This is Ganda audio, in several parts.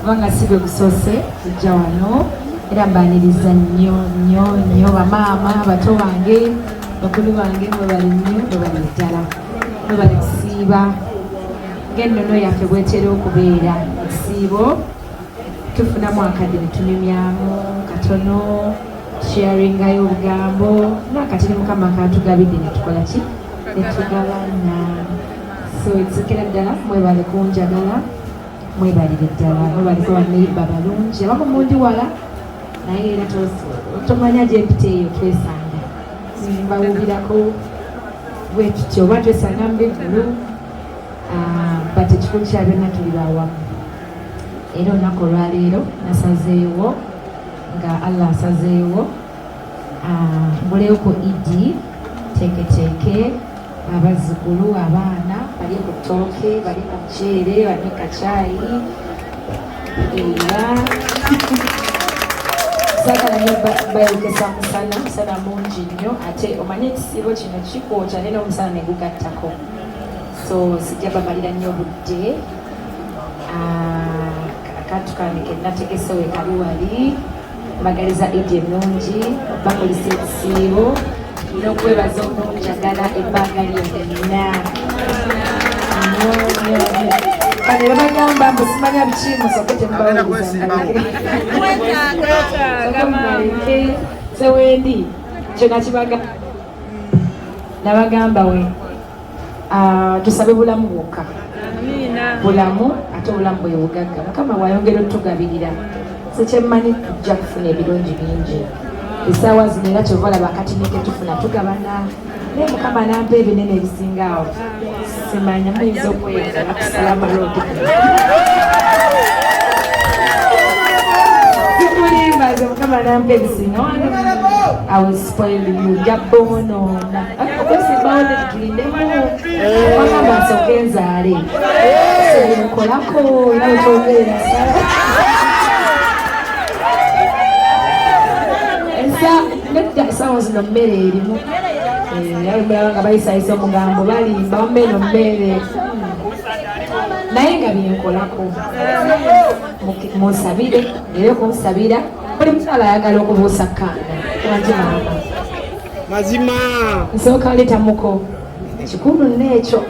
kubanga si gwe gusoose kujja wano era mbaniriza nnyo nnyo nnyo bamaama bato bange bakulu bange mwebali nnyo mwebali ddala mwebali kusiiba ng'ennono yaffe bwetera okubeera ekisiibo tufunamu akadde ne tunyumyamu katono tusharingayo obugambo naakati ne mukama katugabidde ne tukola ki ne tugabana so ekisokera ddala mwebale kunjagala mwebalire ddala mwebaliko baneiba balungi abamu mundi wala naye era tomanya gyempita eyo twesanga mbawubirako bwetutyo oba twesanga mubivulu ah, but ekikulu kya byonna tuli bawamu era olunaku olwaleero nasazeewo nga allah asazeewo ah, mbuleyo ku idi teeketeeke abazzukulu abaana bali ku ttooke bali ku muceere bali mu kacaayi era sagala nyo bayokesa musana musana mungi nnyo ate omanye ekisiibo kino kikwokya naye n'omusana ne gugattako so sijja bamalira nnyo budde ah, akantu kange ke nategese we kali wali mbagaliza edi ennungi bakolisa ekisiibo n'okwebaza okunjagala ebbanga lyonna kale bagamba mbu simanya biki musoke temubaweerezaewendi kyona kibagamba nabagamba we ah, tusabe bulamu bwokka bulamu ate obulamu bwebugagga mukama wayongera otugabirira sekyemmanyi tujja kufuna ebirungi bingi esaawa zino era kyova olaba kati neketufuna tugabana naye mukama nampa ebinene ebisinga awo simanya muyinza okweyeza nakusalamu lodi sikulimba ze mukama nampa ebisinga esawa zino mmere erimu yalumulaba nga bayisayisa omugambo balimba wammeeno mmere naye nga byenkolako munsabire era kunsabira buli mukyala ayagala okubuusa kaana waki maama mazima nsooka leeta muko kikulu neekyo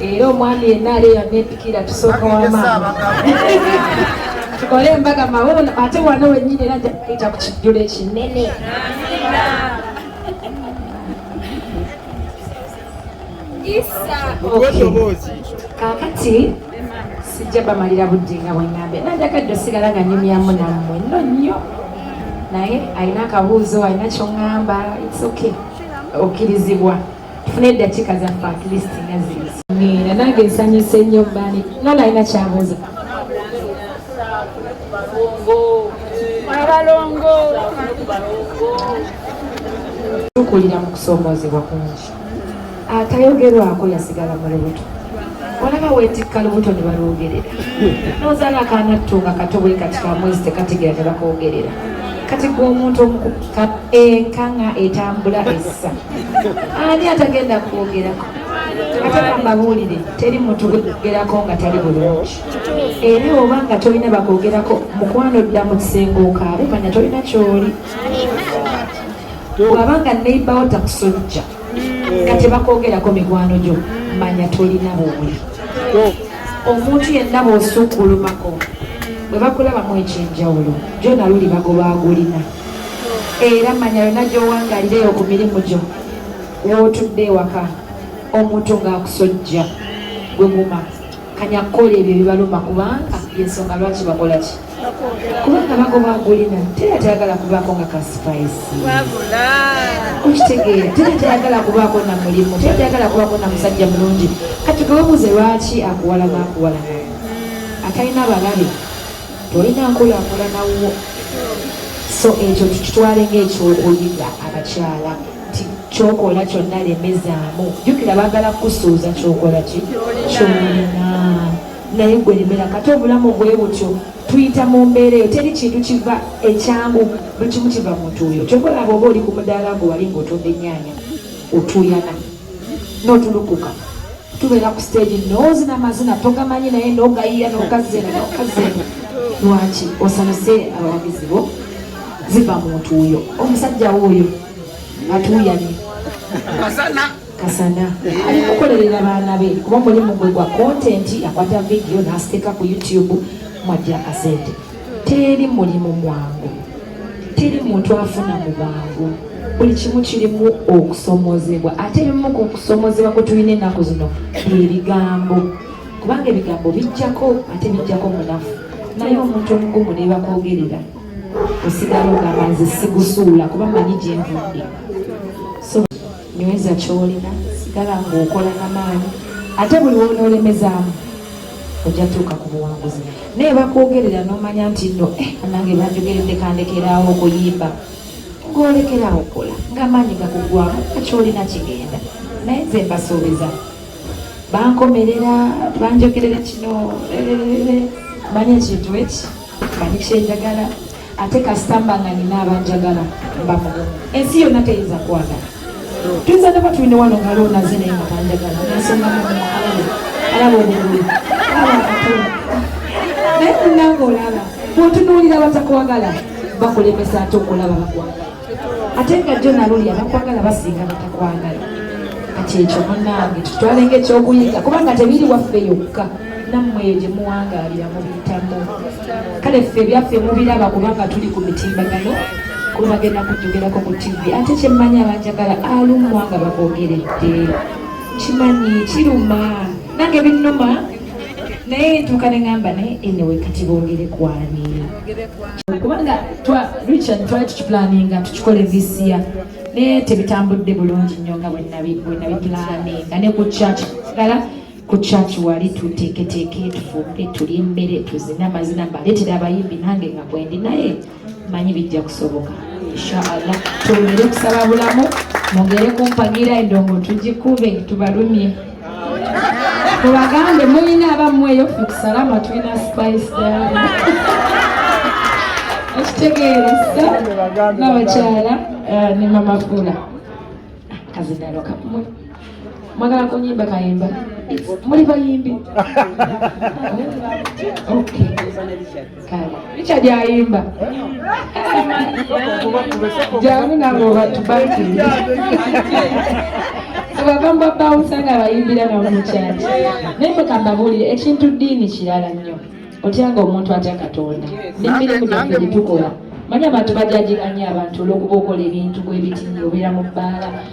era omwami yenna ali eyamepikira tusooka wamaama tukole embaga mawuuno ate wano wenyini era njakuita ku kijjulo ekinene kakati sijja bamalira budde nga bwengambe nanjagadde osigala nga nyumyamu nammwe no nnyo naye alina akabuuzo alina kyoŋŋamba its okay okkirizibwa tufune eddakiika zaffe at least nga ziizi nange nsanyuse nnyo bani nona alina kyabuuza abalongo tukulira mu kusoomoozebwa kungi atayogerwako yasigala mu lubuto olaba wetikka lubuto ne balwogerera nozaala akaana ttu nga kato bwe kati ka mwezi tekategeera ne bakoogerera kati gwe omuntu omukuka enkanga etambula essa ani atagenda kwogerako ate kambabuulire teri muntu gwegerako nga tali bulungi era oba nga tolina bakwogerako mukwano dda mu kisenge okaabe manya tolina kyoli bwaba nga neibawo takusojja nga tebakwogerako mikwano gyo manya tolina bwoli omuntu yenna bwosukkulumako bwe bakulabamu ekyenjawulo gyona luli bagoba agulina era manya yona gyowangalireyo ku mirimu gyo wootudde ewaka omuntu ng'akusojja gwe guma kanya kukola ebyo bibaluma kubanga yensonga lwaki bakola ki kubanga bagoba agulina tera tayagala kubaako nga ka spice okitegeera tera tayagala kubaako na mulimu tera tayagala kubaako na musajja mulungi kati gewebuuze lwaki akuwalana akuwalana atalina balabe tolina nkulakulanawo so ekyo tukitwale ngaekyokuyiga abakyala nti kyokola kyonna lemezaamu jukira bagala kusuuza kyokola ki kyolina naye gwe lemera kati obulamu bwe butyo tuyita mu mbeera eyo teri kintu kiva ekyangu buli kimu kiva muntu oyo kyokola bwoba oli ku mudaala gwe wali ngaotunda ennyanya otuyana notulukuka tubeera ku stage nozina amazina togamanyi naye nogayiya nokazena nokazena lwaki osanuse abawagizi bo ziva muntu oyo omusajja wo oyo atuuyanye kasana kasana ali kukolerera baana be kuba mulimu gwe gwa kontenti akwata vidiyo n'asiteeka ku youtube mwajja akasente teri mulimu mwangu teri muntu afuna mu bwangu buli kimu kirimu okusomozebwa ate ebimu ku kusomozebwa kwe tulina ennaku zino ebigambo kubanga ebigambo bijjako ate bijjako munafu naye omuntu omugumu nebakogerera osigala ogamba nze sigusuula kuba manyi gyenvudde so nyweza kyolina sigala ngaokola namaanyi ate buli wonoolemezaamu ojja tuuka ku buwanguzi naye bakwogerera nomanya nti no eh, nange banjogeredde kandekeraawo okuyimba ngolekerawo okola ngamaanyi gakugwamu akyolina kigenda naye nze mbasuubiza bankomerera banjogerera kino eh, eh, manya ekintu eki manyi kyenjagala ate kasita mba nga nina abanjagala mba mugumu ensi yonna teyinza kwagala tuyinza naba tulina wano nga loonaze naye nga tanjagala nensonga mualabe alaba obugulu naye munange olaba bwotunuulira batakwagala bakulemesa ate okulaba bakwagala ate nga jjo naluli abakwagala basinga batakwagala kati ekyo munange tutwale nga ekyokuyiga kubanga tebiri waffe yokka nammwe eyo gye muwangaalira mubiyitamu kale ffe ebyaffe mubiraba kubanga tuli ku mitimbagano kuba bagenda kujogerako ku tivi ate kyemmanyi abanjagala alumwa nga bagogeredde kimanyi kiruma nange binnuma naye ntuuka ne ŋamba naye enewe kati boogere kwani kubanga twa richard twali tukipulaninga tukikole this year naye tebitambudde bulungi nnyo nga bwenabipulaninga ne ku church kala ku church wali tuteeketeeka etufumbe tuli emmere tuzina amazina mbaletera abayimbi nange nga bwendi naye manyi bijja kusoboka inshallah twongere okusaba bulamu mwongere kumpagira endongo tugikube tubalumye Mubagambe mulina abammweyo ffe kusalama tulina spice dala. Ekitegeera ssa n'abakyala eh, ne mama Fula. Kazidalo kamwe. Mwagala kunyimba kayimba. Muli bayimbi. Okay. Richard ayimba jangu nange obatubati abagamba bawusa nga bayimbira namukyaki naye mukambabulire ekintu diini kirala nnyo otyanga omuntu atya katonda nemirimu gyaffe gyetukola manya abantu bajajiganya abantu olwokuba okola ebintu bwebiti obeera mu bbaala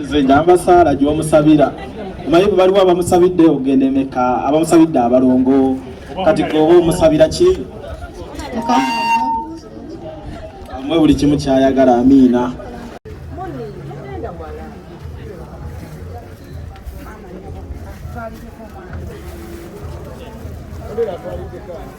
nze njamba saala gyomusabira omanyi bwe baliwo abamusabidde ogenda emeka abamusabidde abalongo kati goba omusabira ki mwe buli kimu kyayagala amiina Thank you.